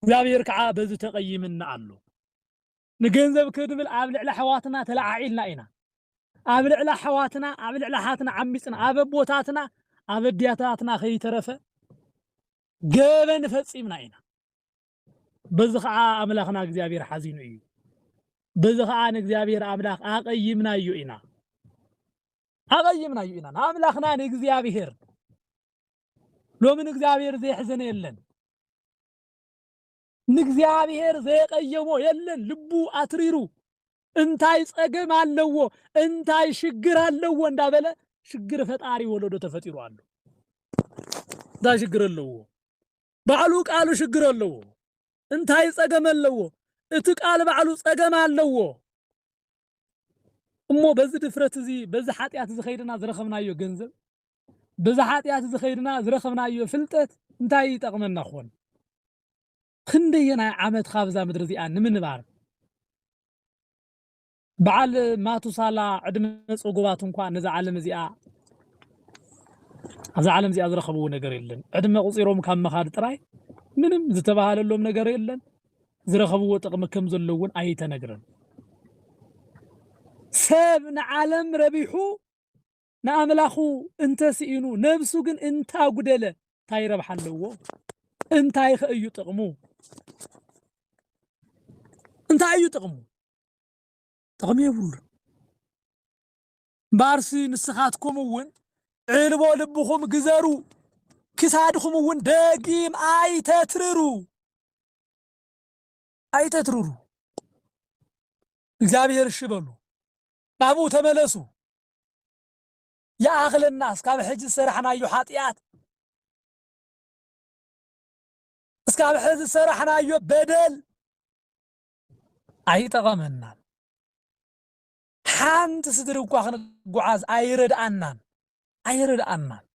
እግዚኣብሔር ከዓ በዚ ተቐይምና ኣሎ። ንገንዘብ ክንብል ኣብ ልዕሊ ኣሕዋትና ተለዓዒልና ኢና። ኣብ ልዕሊ ኣሕዋትና ኣብ ልዕሊ ኣሓትና ዓሚጽና፣ ኣብ ኣቦታትና ኣብ ኣዲያታትና ከይተረፈ ገበን ፈጺምና ኢና። በዚ ኸኣ ኣምላኽና እግዚኣብሔር ሓዚኑ እዩ። በዚ ኸኣ ንእግዚኣብሔር ኣምላኽ ኣቐይምናዮ ኢና ኣቐይምናዮ ኢና ንኣምላኽና ንእግዚኣብሔር ሎሚ ንእግዚኣብሔር ዘየሕዘነ የለን። ንእግዚኣብሔር ዘየቀየሞ የለን ልቡ ኣትሪሩ እንታይ ጸገም ኣለዎ እንታይ ሽግር ኣለዎ እንዳበለ ሽግር ፈጣሪ ወለዶ ተፈጢሩ ኣሎ እንታይ ሽግር ኣለዎ ባዕሉ ቃሉ ሽግር ኣለዎ እንታይ ጸገም ኣለዎ እቲ ቃል ባዕሉ ጸገም ኣለዎ እሞ በዚ ድፍረት እዚ በዚ ሓጢኣት እዚ ከይድና ዝረኸብናዮ ገንዘብ በዚ ሓጢኣት እዚ ከይድና ዝረኸብናዮ ፍልጠት እንታይ ይጠቕመና ኾን ክንደየናይ ዓመት ካብዛ ምድሪ እዚኣ ንምንባር በዓል ማቱሳላ ዕድመ ጽጉባት እንኳ ነዛ ዓለም እዚኣ ኣብዛ ዓለም እዚኣ ዝረኸብዎ ነገር የለን። ዕድመ ቁጺሮም ካብ ምኻድ ጥራይ ምንም ዝተባሃለሎም ነገር የለን። ዝረኸብዎ ጥቕሚ ከም ዘሎ እውን ኣይተነግረን። ሰብ ንዓለም ረቢሑ ንኣምላኹ እንተ ስኢኑ ነብሱ ግን እንተ ኣጉደለ እንታይ ረብሓ ኣለዎ? እንታይኸ እዩ ጥቕሙ? እንታይ እዩ ጥቕሙ? ጥቕሚ የብሉን። እምበኣርሲ ንስኻትኩም እውን ዕልቦ ልብኹም ግዘሩ፣ ክሳድኹም እውን ደጊም ኣይተትርሩ ኣይተትርሩ። እግዚኣብሔር እሺ በሉ፣ ናብኡ ተመለሱ፣ ይኣኽለና እስካብ ሕጂ ዝሰራሕናዮ ሓጥያት እስካብ ሕዚ ዝሰራሕናዮ በደል ኣይጠቐመናን ሓንቲ ስድሪ እኳ ክንጓዓዝ ኣይረድኣናን ኣይረድኣናን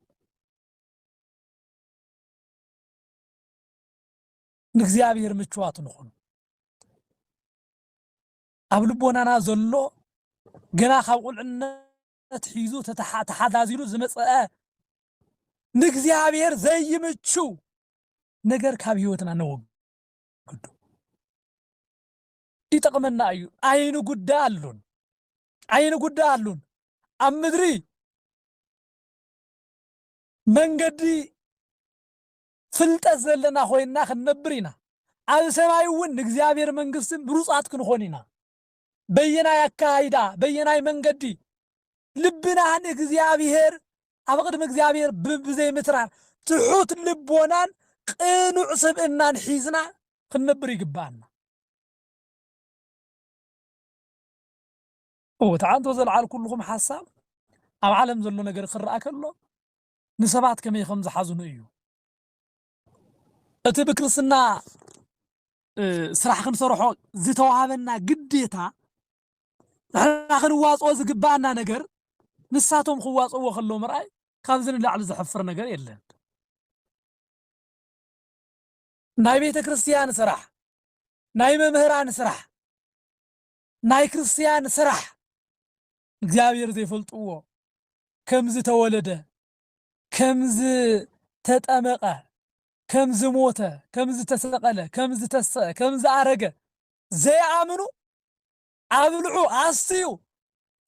ንእግዚኣብሔር ምችዋት ንኹን ኣብ ልቦናና ዘሎ ገና ካብ ቁልዕነት ሒዙ ተሓዛዚሉ ዝመጸኣ ንእግዚኣብሔር ዘይምቹ ነገር ካብ ህይወትና ነወግዱ። ይጠቕመና እዩ። ኣይንጉዳ ኣሉን ኣይንጉዳ ኣሉን ኣብ ምድሪ መንገዲ ፍልጠት ዘለና ኮይንና ክንነብር ኢና። ኣብ ሰማይ እውን ንእግዚኣብሔር መንግሥቲ ምሩፃት ክንኾን ኢና። በየናይ ኣከያይዳ፣ በየናይ መንገዲ? ልብና ንእግዚኣብሔር ኣብ ቕድሚ እግዚኣብሔር ብዘይምትራር ትሑት ልቦናን ቕኑዕ ስብእናን ሒዝና ክንነብር ይግበኣና። እወ፣ እቲ ዓንቶ ዘልዓልኩልኹም ሓሳብ ኣብ ዓለም ዘሎ ነገር ክርኣ ከሎ ንሰባት ከመይ ከም ዝሓዝኑ እዩ። እቲ ብክርስትና ስራሕ ክንሰርሖ ዝተዋህበና ግዴታ ንሕና ክንዋፅኦ ዝግባኣና ነገር ንሳቶም ክዋፅእዎ ከለዉ ምርኣይ ካብዚ ንላዕሊ ዘሕፍር ነገር የለን። ናይ ቤተ ክርስቲያን ስራሕ፣ ናይ መምህራን ስራሕ ናይ ክርስትያን ስራሕ እግዚኣብሔር ዘይፈልጥዎ ከም ዝተወለደ ከም ዝተጠመቀ ከም ዝሞተ ከም ዝተሰቀለ ከም ዝተሰ ከም ዝኣረገ ዘይኣምኑ ኣብልዑ ኣስትዩ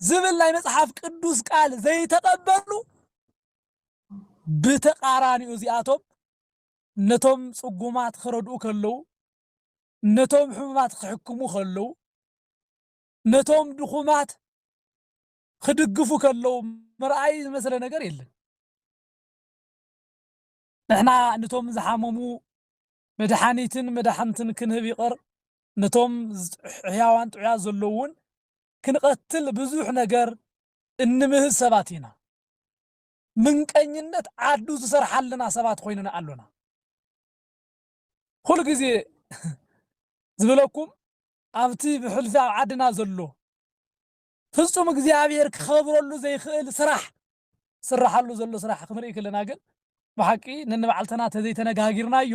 ዝብል ናይ መጽሓፍ ቅዱስ ቃል ዘይተቀበሉ ብተቃራኒኡ እዚኣቶም ነቶም ጽጉማት ክረድኡ ከለዉ ነቶም ሕሙማት ኺሕክሙ ኸለዉ፣ ነቶም ድኹማት ኺድግፉ ከለዉ ምርኣይ ዝመስለ ነገር የለን። ንሕና ነቶም ዝሓመሙ መድሓኒትን መዳሕንትን ክንህብ ይቕር፣ ነቶም ሕያዋን ጥዑያት ዘለዉውን ክንቐትል ብዙሕ ነገር እንምህዝ ሰባት ኢና። ምንቀኝነት ዓዱ ዝሰርሓልና ሰባት ኾይንና ኣሎና። ኹሉ ግዜ ዝብለኩም ኣብቲ ብሕልፊ ኣብ ዓድና ዘሎ ፍጹም እግዚኣብሔር ክኸብረሉ ዘይክእል ስራሕ ዝስራሓሉ ዘሎ ስራሕ ክንርኢ ከለና ግን ብሓቂ ነንባዕልተና ተዘይተነጋጊርናዮ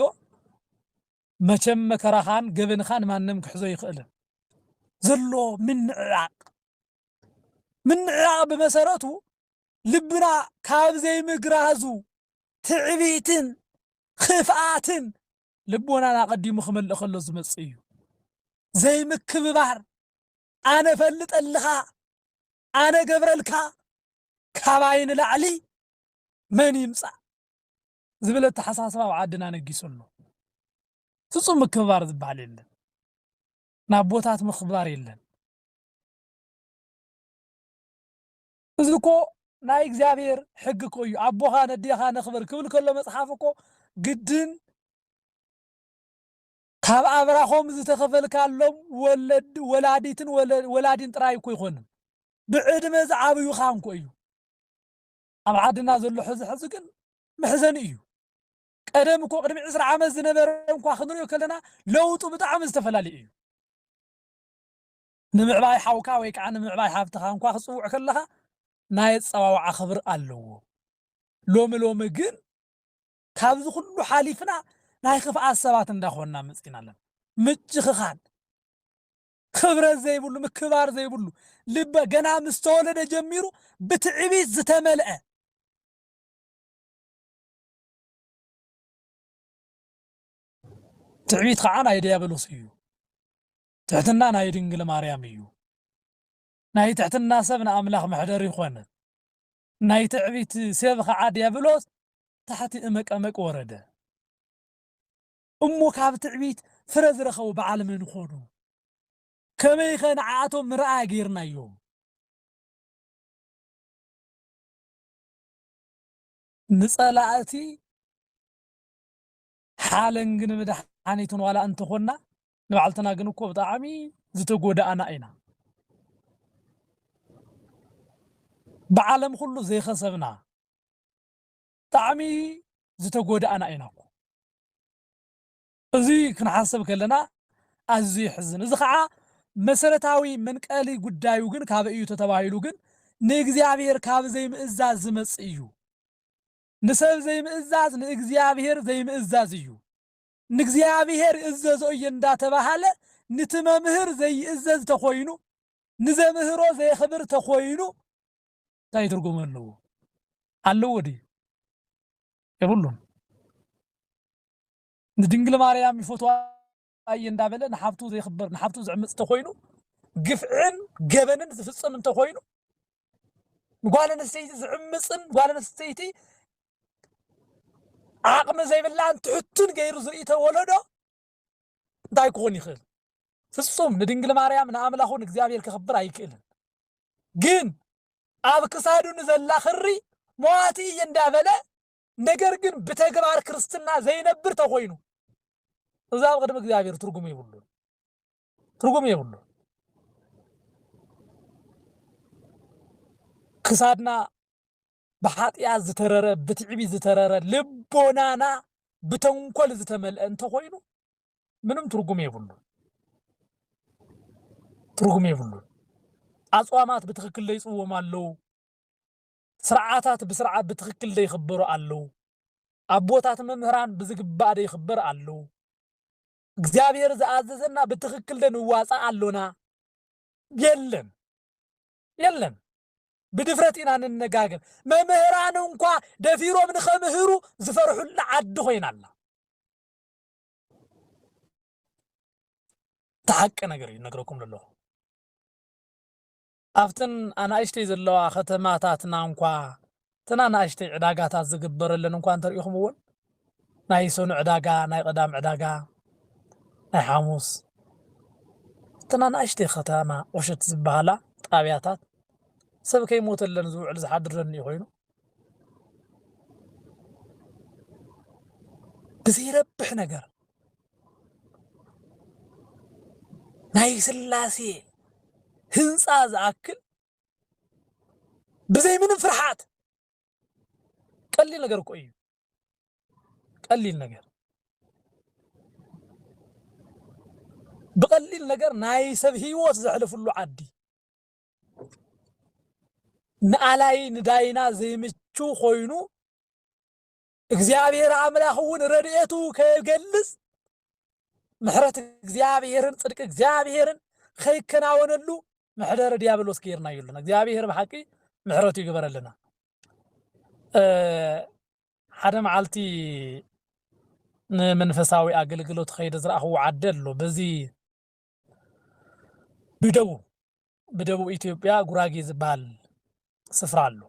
መቸም መከራኻን ገበንኻን ማንም ክሕዞ ይኽእልን ዘሎ ምንዕራቕ ምንዕራቕ ብመሰረቱ ልብና ካብ ዘይምግራዙ ትዕቢትን ኽፍኣትን ልቦናን ኣቐዲሙ ክመልእ ከሎ ዝመጽእ እዩ። ዘይምክብባር፣ ኣነ እፈልጠልኻ፣ ኣነ እገብረልካ፣ ካባይ ንላዕሊ መን ይምጻእ ዝብል ኣተሓሳስባ ኣብ ዓድና ነጊሱ ኣሎ። ፍጹም ምክብባር ዝበሃል የለን። ንኣቦታት ምኽባር የለን። እዚ እኮ ናይ እግዚኣብሔር ሕግ እኮ እዩ ኣቦኻ ነዴኻ ነኽብር ክብል ከሎ መጽሓፍ እኮ ግድን ካብ ኣብራኾም ዝተኸፈልካሎም ወለድ ወላዲትን ወላዲን ጥራይ እኮ ይኮንን ብዕድመ ዝዓብዩኻ እንኮ እዩ ኣብ ዓድና ዘሎ ሕዚ ሕዚ ግን መሕዘኒ እዩ ቀደም እኮ ቅድሚ ዕስራ ዓመት ዝነበረ እንኳ ክንሪኦ ከለና ለውጡ ብጣዕሚ ዝተፈላለዩ እዩ ንምዕባይ ሓውካ ወይ ከኣ ንምዕባይ ሃብትኻ እንኳ ክትጽውዕ ከለኻ ናይ ኣጸዋውዓ ክብሪ ኣለዎ። ሎሚ ሎሚ ግን ካብዚ ኩሉ ሓሊፍና ናይ ክፍኣት ሰባት እንዳ ኮንና መጺእና ኣለና። ምጭኽኻን፣ ክብረት ዘይብሉ፣ ምክብባር ዘይብሉ፣ ልበ ገና ምስ ተወለደ ጀሚሩ ብትዕቢት ዝተመልአ፣ ትዕቢት ከኣ ናይ ድያብሎስ እዩ። ትሕትና ናይ ድንግል ማርያም እዩ ናይ ትሕትና ሰብ ንኣምላኽ መሕደሪ ኮነ ናይ ትዕቢት ሴብ ኸዓ ድያብሎስ ታሕቲ እመቀመቅ ወረደ እሞ ካብ ትዕቢት ፍረ ዝረኸቡ በዓል መን ኮኑ ከመይ ከ ንዓኣቶም ምርኣያ ገይርናዮም ንጸላእቲ ሓለንግ ንመድሓኒትን ዋላ እንተኾና ንባዕልትና ግን እኮ ብጣዕሚ ዝተጎዳእና ኢና ብዓለም ኩሉ ዘይኸሰብና ብጣዕሚ ዝተጎዳእና ኢና እኮ እዚ ክንሓሰብ ከለና ኣዝዩ ይሕዝን እዚ ከዓ መሰረታዊ መንቀሊ ጉዳዩ ግን ካበይ እዩ ተተባሂሉ ግን ንእግዚኣብሔር ካብ ዘይምእዛዝ ዝመጽእ እዩ ንሰብ ዘይምእዛዝ ንእግዚኣብሔር ዘይምእዛዝ እዩ። ንእግዚኣብሔር ይእዘዞ እየ እንዳተባሃለ ንቲ መምህር ዘይእዘዝ ተኮይኑ ንዘምህሮ ዘየክብር ተኮይኑ ታይ ትርጉም ኣለዎ? ኣለዎ ድዩ? የብሉን። ንድንግል ማርያም ይፈትዋ ኣየ እንዳበለ ንሓፍቱ ዘይኽብር ንሓፍቱ ዝዕምፅ እንተኾይኑ ግፍዕን ገበንን ዝፍፅም እንተኾይኑ ንጓል ኣንስተይቲ ዝዕምፅን ጓል ኣንስተይቲ ዓቕሚ ዘይብላን ትሕቱን ገይሩ ዝርኢ ተወለዶ እንታይ ክኾን ይኽእል? ፍጹም ንድንግል ማርያም ንኣምላኹ ንእግዚኣብሔር ከኽብር ኣይክእልን። ግን ኣብ ክሳዱ ንዘላ ክሪ መዋቲ እየ እንዳበለ ነገር ግን ብተግባር ክርስትና ዘይነብር ተኮይኑ እዚ ኣብ ቅድሚ እግዚኣብሔር ትርጉም የብሉን ትርጉም የብሉን ክሳድና ብሓጢኣት ዝተረረ ብትዕቢ ዝተረረ ልቦናና ብተንኮል ዝተመልአ እንተኮይኑ ምንም ትርጉም የብሉ ትርጉም የብሉ ኣፅዋማት ብትክክል ለይፅዎም ኣለዉ ስርዓታት ብስርዓት ብትኽክል ዶ ይኽበሩ ኣለው? ኣቦታት መምህራን ብዝግባእ ዶ ይኽበር ኣሉ? እግዚኣብሔር ዝኣዘዘና ብትኽክል ዶ ንዋፃእ ኣሎና? የለን የለን ብድፍረት ኢና ንነጋገር መምህራን እንኳ ደፊሮም ንኸምህሩ ዝፈርሑላ ዓዲ ኮይና ኣላ ተሓቂ ነገር እዩ ነግረኩም ኣለኹ ኣብተን ኣናእሽተይ ዘለዋ ከተማታትና እንኳ እተን ኣናእሽተይ ዕዳጋታት ዝግበረለን እንኳ እንተርኢኹምወን ናይ ሰኑ ዕዳጋ ናይ ቐዳም ዕዳጋ ናይ ሓሙስ እተን ኣናእሽተይ ከተማ ቁሽት ዝበሃላ ጣብያታት ሰብ ከይሞተለን ዝውዕል ዝሓድር ደንዩ ኮይኑ ብዘይረብሕ ነገር ናይ ስላሴ ህንፃ ዝኣክል ብዘይ ምንም ፍርሓት ቀሊል ነገር እኮ እዩ። ቀሊል ነገር ብቀሊል ነገር ናይ ሰብ ህይወት ዘሕልፍሉ ዓዲ ንኣላይ ንዳይና ዘይምቹ ኮይኑ እግዚኣብሔር ኣምላኽ እውን ረድኤቱ ከይገልጽ ምሕረት እግዚኣብሔርን ጽድቂ እግዚኣብሔርን ከይከናወነሉ ምሕደረ ዲያብሎስ ገይርና የሉና እግዚኣብሔር ብሓቂ ምሕረቱ ይግበረልና ሓደ መዓልቲ ንመንፈሳዊ ኣገልግሎት ኸይደ ዝረኣኽዎ ዓዲ ኣሎ በዚ ብደቡብ ብደቡብ ኢትዮጵያ ጉራጌ ዝበሃል ስፍራ ኣሎ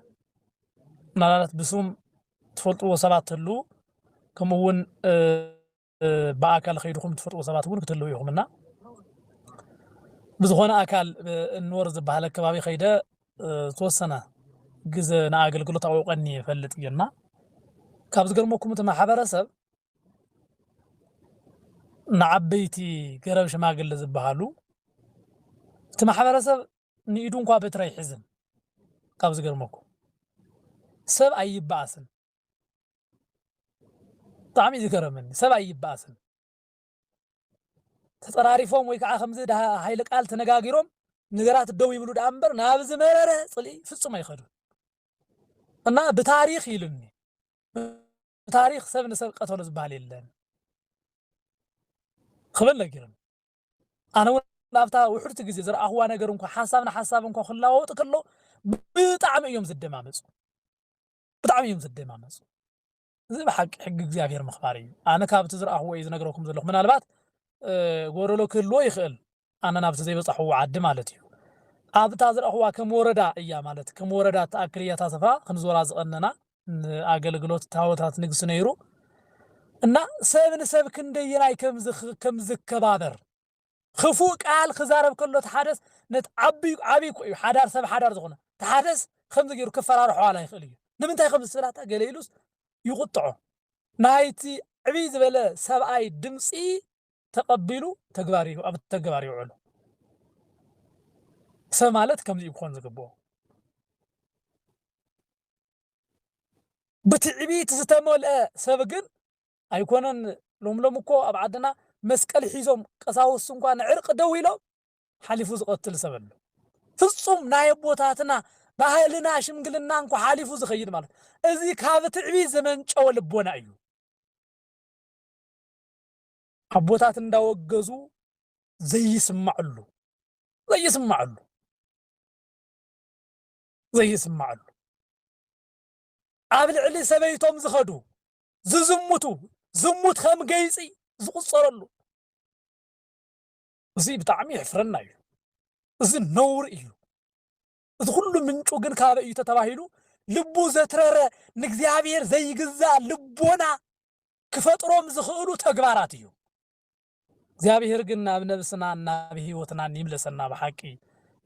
ምናልባት ብስም ትፈልጥዎ ሰባት ትህሉ ከምኡ እውን ብኣካል ከይድኹም ትፈልጥዎ ሰባት እውን ክትህልው ኢኹም እና ብዝኾነ ኣካል እንወር ዝበሃል ኣከባቢ ከይደ ዝተወሰነ ግዘ ንኣገልግሎት ኣውቀኒ እፈልጥ እዩና ካብ ዝገርመኩም እቲ ማሕበረሰብ ንዓበይቲ ገረብ ሽማግለ ዝበሃሉ እቲ ማሕበረሰብ ንኢዱ እንኳ በትሪ ኣይሕዝን ካብ ዝገርመኩም ሰብ ኣይበኣስን ብጣዕሚ እዩ ዝገረመኒ ሰብ ኣይበኣስን ተፀራሪፎም ወይ ከዓ ከምዚ ሃይለ ቃል ተነጋጊሮም ነገራት ደው ይብሉ ደኣ እምበር ናብ ዝመረረ ፅልኢ ፍፁም ኣይኸዱን እና ብታሪክ ኢሉኒ ብታሪኽ ሰብ ንሰብ ቀተሉ ዝበሃል የለን ክብል ነጊሩኒ። ኣነ እውን ኣብታ ውሕድቲ ግዜ ዝረኣኹዋ ነገር እንኳ ሓሳብ ንሓሳብ እንኳ ክለዋወጥ ከሎ ብጣዕሚ እዮም ዝደማመፁ ብጣዕሚ እዮም ዝደማመፁ። እዚ ብሓቂ ሕጊ እግዚኣብሔር ምኽባር እዩ። ኣነ ካብቲ ዝረኣኹዎ እዩ ዝነግረኩም ዘለኹ ምናልባት ጎደሎ ክህልዎ ይኽእል ኣነ ናብቲ ዘይበጻሕዎ ዓዲ ማለት እዩ ኣብ እታ ዝረኣኽዋ ከም ወረዳ እያ ማለት ከም ወረዳ እትኣክል እያ እታ ስፍራ ክንዞራ ዝቐነና ንኣገልግሎት ታወታት ንግስ ነይሩ እና ሰብ ንሰብ ክንደየናይ ከም ዝከባበር ክፉእ ቃል ክዛረብ ከሎ እቲ ሓደስ ነት ዓቢ ዓቢ እኮ እዩ ሓዳር ሰብ ሓዳር ዝኾነ እቲ ሓደስ ከምዚ ገይሩ ክፈራርሖ ዋላ ይኽእል እዩ ንምንታይ ከም ዝስብላታ ገለ ኢሉስ ይቁጥዖ ናይቲ ዕብይ ዝበለ ሰብኣይ ድምጺ ተቀቢሉ ተግባር ኣብ ተግባር የውዕሎ። ሰብ ማለት ከምዚ እዩ ክኾን ዝግብኦ። ብትዕቢት ዝተመልአ ሰብ ግን ኣይኮነን ሎም ሎም እኮ ኣብ ዓድና መስቀል ሒዞም ቀሳውስት እንኳ ንዕርቂ ደው ኢሎም ሓሊፉ ዝቀትል ሰብ ኣሎ። ፍጹም ናይ ኣቦታትና ባህልና ሽምግልና እንኳ ሓሊፉ ዝኸይድ ማለት እዚ ካብ ትዕቢት ዝመንጨወ ልቦና እዩ። ኣቦታት እንዳወገዙ ዘይስማዕሉ ዘይስማዕሉ ዘይስማዕሉ ኣብ ልዕሊ ሰበይቶም ዝኸዱ ዝዝሙቱ ዝሙት ከም ገይፂ ዝቁፀረሉ እዚ ብጣዕሚ የሕፍረና እዩ እዚ ነውር እዩ እዚ ኩሉ ምንጩ ግን ካበይ እዩ ተተባሂሉ ልቡ ዘትረረ ንእግዚኣብሔር ዘይግዛእ ልቦና ክፈጥሮም ዝኽእሉ ተግባራት እዩ። እግዚኣብሔር ግን ናብ ነብስናን ናብ ህይወትናን ይምለሰና ብሓቂ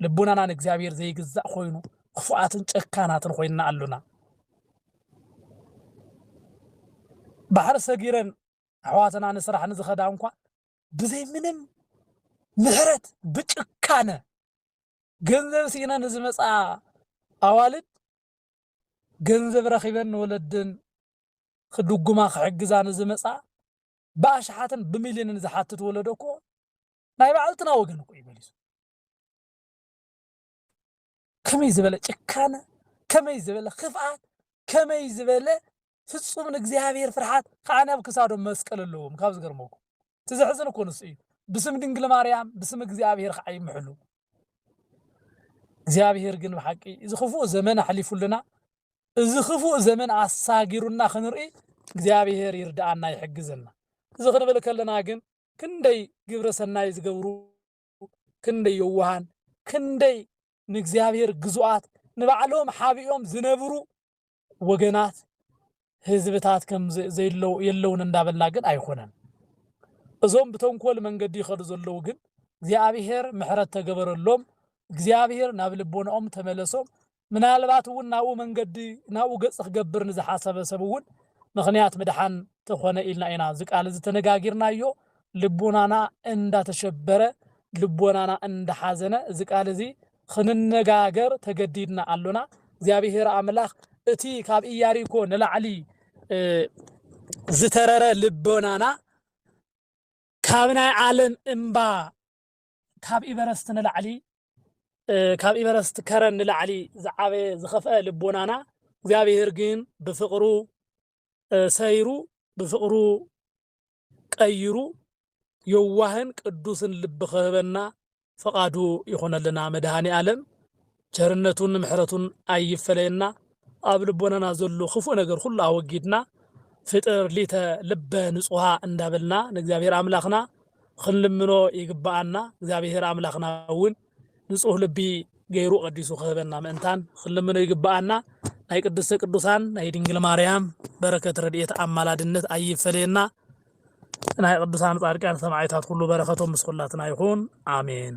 ልቡናና ንእግዚኣብሔር ዘይግዛእ ኮይኑ ክፉኣትን ጨካናትን ኮይና ኣሎና ባሕሪ ሰጊረን ኣሕዋትና ንስራሕ ንዝኸዳ እንኳ ብዘይ ምንም ምሕረት ብጭካነ ገንዘብ ሲኢነን ንዝመፅኣ ኣዋልድ ገንዘብ ረኺበን ንወለድን ክድጉማ ክሕግዛ ንዝመፅኣ ብኣሽሓትን ብሚልዮንን ዝሓትት ወለዶ እኮ ናይ ባዕልትና ወገን እኮ እዩ መሊሱ። ከመይ ዝበለ ጭካነ፣ ከመይ ዝበለ ክፍኣት፣ ከመይ ዝበለ ፍጹም ንእግዚኣብሔር ፍርሓት ከኣ ናብ ክሳዶም መስቀል ኣለዎም ካብ ዝገርመኩም እቲ ዘሕዝን እኮ ንሱ እዩ ብስም ድንግል ማርያም ብስም እግዚኣብሔር ከዓ ይምሕሉ እግዚኣብሔር ግን ብሓቂ እዚ ክፉእ ዘመን ኣሕሊፉልና እዚ ክፉእ ዘመን ኣሳጊሩና ክንርኢ እግዚኣብሔር ይርድኣና ይሕግዘና እዚ ክንብል ከለና ግን ክንደይ ግብረ ሰናይ ዝገብሩ ክንደይ የዋሃን ክንደይ ንእግዚኣብሔር ግዙኣት ንባዕሎም ሓቢኦም ዝነብሩ ወገናት ህዝብታት ከም ዘይለው የለውን እንዳበልና ግን ኣይኮነን እዞም ብተንኮል መንገዲ ይኸዱ ዘለው ግን እግዚኣብሔር ምሕረት ተገበረሎም እግዚኣብሔር ናብ ልቦናኦም ተመለሶም ምናልባት እውን ናብኡ መንገዲ ናብኡ ገጽ ክገብር ንዝሓሰበ ሰብ እውን ምክንያት ምድሓን ተኾነ ኢልና ኢና እዚ ቃል እዚ ተነጋጊርናዮ ልቦናና እንዳተሸበረ ልቦናና እንዳሓዘነ እዚ ቃል እዚ ኽንነጋገር ተገዲድና ኣሎና። እግዚኣብሄር ኣምላኽ እቲ ካብ እያሪኮ ንላዕሊ ዝተረረ ልቦናና ካብ ናይ ዓለም እምባ ካብ ኢቨረስት ንላዕሊ ካብ ኢቨረስት ከረን ንላዕሊ ዝዓበየ ዝኸፍአ ልቦናና እግዚኣብሄር ግን ብፍቕሩ ሰይሩ ብፍቕሩ ቀይሩ የዋህን ቅዱስን ልቢ ክህበና ፍቃዱ ይኹነልና መድሃኒኣለም ቸርነቱን ምሕረቱን ኣይፈለየና ኣብ ልቦናና ዘሎ ክፉእ ነገር ኩሉ ኣወጊድና ፍጥር ሊተ ልበ ንጹሃ እንዳበልና ንእግዚኣብሔር ኣምላኽና ክንልምኖ ይግብኣና እግዚኣብሔር ኣምላኽና እውን ንጹህ ልቢ ገይሩ ቀዲሱ ክህበና ምእንታን ክንልምኖ ይግብኣና። ናይ ቅድስተ ቅዱሳን ናይ ድንግል ማርያም በረከት ረድኤት ኣማላድነት ኣይፈለየና። ናይ ቅዱሳን ጻድቃን ሰማዕታት ኩሉ በረከቶም ምስ ኩላትና ይኹን ኣሜን።